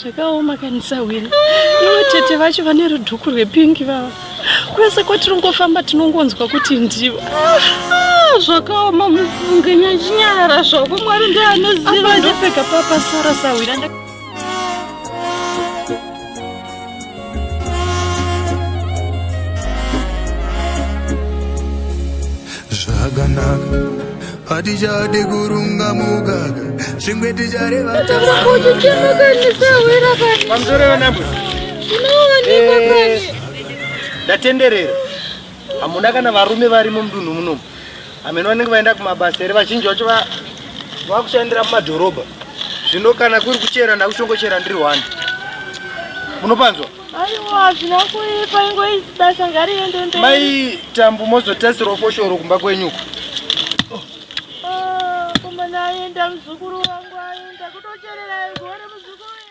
zvakaoma kanisa wena ivo tete vacho vane rudhuku rwepingi vava kwese kwatiringofamba tinongonzwa kuti ndivo ah, zvakaoma mufunge nyachinyara zvako mwari ndianoziva ndopfeka papa sara sahwira zvakanaka hatichade kurunga mugaka zvimwe tichareva ndatenderera hamuna kana varume varimo mudunhu munomu hameno vanenge vaenda kumabasa here vazhinji vacho vakushandira mumadhorobha zvino kana kuri kuchera ndakuchongochera ndiri one munopanzwa aiwa hazvina kuipa ingoizi basa ngariende mberi mai tambu mozotasirawo foshoro kumba kwenyuko aenda muzukuru wangu aenda kutocherera gore muzukuru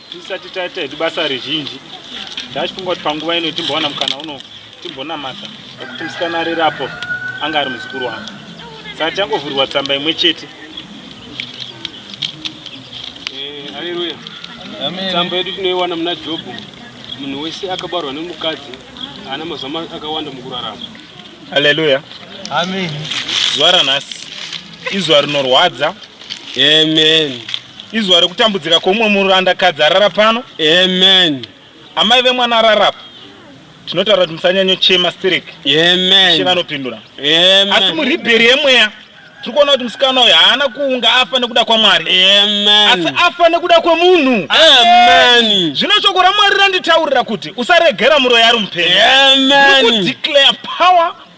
Tisati taita hedu basa rezhinji ndachifunga kuti panguva ino timbowana mukana uno timbonamata nekuti musikana arere apo anga ari muzukuru wangu saka tichangovhurirwa tsamba imwe chete eh, aleluya tsamba yedu tinoiwana muna jobho munhu wese akabarwa nemukadzi haana mazuva akawanda mukurarama aleluya amen zuva ranhasi izuva rinorwadza amen Izuva rekutambudzika kweumwe muranda kadzi arara pano. Amen. Amai vemwana arara apa. Tinotaura kuti musanyanyo chema sterek. Amen. Ishe vanopindura. Amen. Asi muribheri yemweya tiri kuona kuti musikana uyu haana kuunga afa nekuda kwamwari asi afa nekuda kwemunhu zvino shoko ramwari randitaurira kuti usaregera muroyi ari mupenyu declare power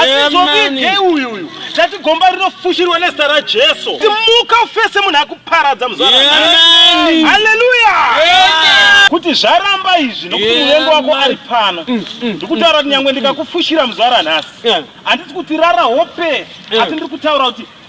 asi zvovige uyu uyu tati gomba rinofushirwa nezita rajesu timuka ufese munhu akuparadza muzvaaleluya kuti zvaramba izvi nokuti muvengo wako ari pano mm, mm, ndikutaura kuti mm. nyangwe ndikakufushira muzvara nhasi handisi kuti rara hope asi ndiri kutaura kuti